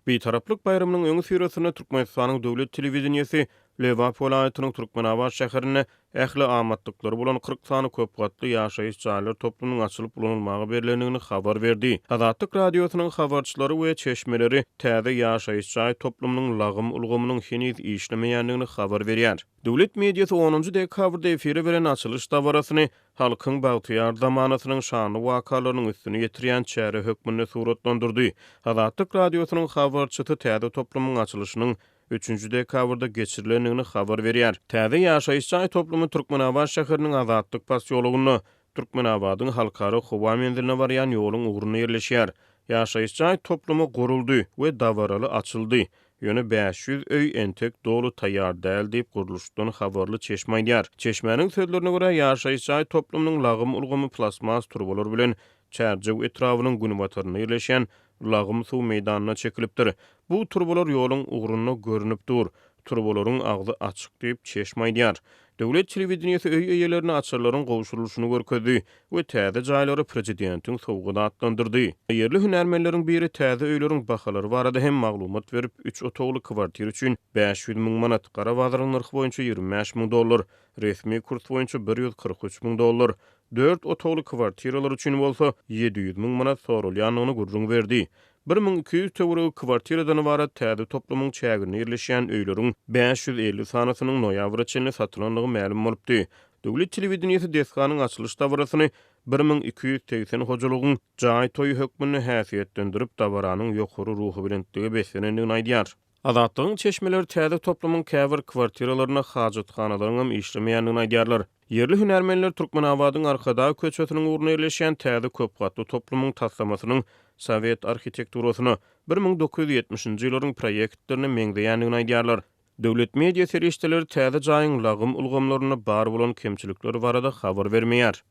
Bitaraplyk baýramynyň öňüsyrasynda Türkmenistanyň döwlet telewideniýesi Lebap welaýatynyň Türkmenabat şäherinde ähli amatlyklary bolan kyrk sany köp gatly ýaşaýyş jaýlar toplumynyň açylyp ulanylmaga berlendigini habar berdi. Azatlyk Radiosynyň habarçylary we çeşmeleri täze ýaşaýyş jaý toplumynyň lagym ulgamynyň heniz işlemeýändigini habar berýär. Döwlet mediasy onunjy dekabrda efire beren açylyş dabarasyny halkyň bagtyýar zamanasynyň şanly wakalarynyň üstüni ýetirýän çäre hökmünde suratlandyrdy. Azatlyk Radiosynyň habarçysy täze toplumyň açylyşynyň üçünji dekabrda geçirilendigini habar berýär. Täze ýaşaýyş jaý toplumy Türkmenabat şäheriniň Azatlyk posýologynda, Türkmenabadyň Halkara howa menziline barýan ýoluň ugrunda ýerleşýär. Ýaşaýyş jaý toplumy guruldy we dabaraly açyldy. Ýöne bäş ýüz öý entek doly taýýar däl diýip, gurluşykdan habarly çeşme aýdýar. Çeşmäniň sözlerine görä, ýaşaýyş jaý toplumynyň lagym ulgamy plastmas turbalar bilen Çärjew etrabynyň günbatarynda ýerleşýän lagym suw meýdanyna çekilipdir. Bu turbalar ýoluň ugrunda görnüp dur. Turbalaryň agzy açyk diýip, çeşme aýdýar. Döwlet telewideniýesi öý eýelerine açarlaryň gowşurylyşyny görkezdi we täze jaýlary prezidentiň sowgady atlandyrdy. Ýerli hünärmenleriň biri täze öýleriň bahalary barada hem maglumat berip, üç otagly kwartira üçin bäş ýüz müň manat, gara bazaryň nyrhy boýunça ýigrimi bäş müň dollar, resmi kurs boýunça bir ýüz kyrk üç müň dollar, dört otagly kwartiralar üçin bolsa ýedi ýüz müň manat soralýandygyny gürrüň berdi. Bir müň iki ýüz töweregi kwartiradan ybarat täze toplumyň çäginde ýerleşýän öýleriň bäş ýüz elli sanysynyň noýabra çenli satylandygy mälim bolupdy. Döwlet telewideniýesi desganyň açylyş dabarasyny bir müň iki ýüz segsen hojalygyň jaý toýy hökmünde häsiýetlendirip, dabaranyň ýokary ruhubelentligi beslenendigini aýdýar. Azatlygyň çeşmeleri täze toplumyň käbir kwartiralarynda hajathanalaryň hem işlemeýändigini aýdýarlar. Ýerli hünärmenler Türkmenabadyň Arkadag köçesiniň ugrunda ýerleşýän täze köp gatly toplumyň taslamasynyň sowet arhitekturasyna, bir müň dokuz ýüz ýetmişinji ýyllaryň proýektlerine meňzeýändigini aýdýarlar. Döwlet media serişdeleri täze jaýyň lagym ulgamlarynda bar bolan kemçilikler barada habar bermeýär.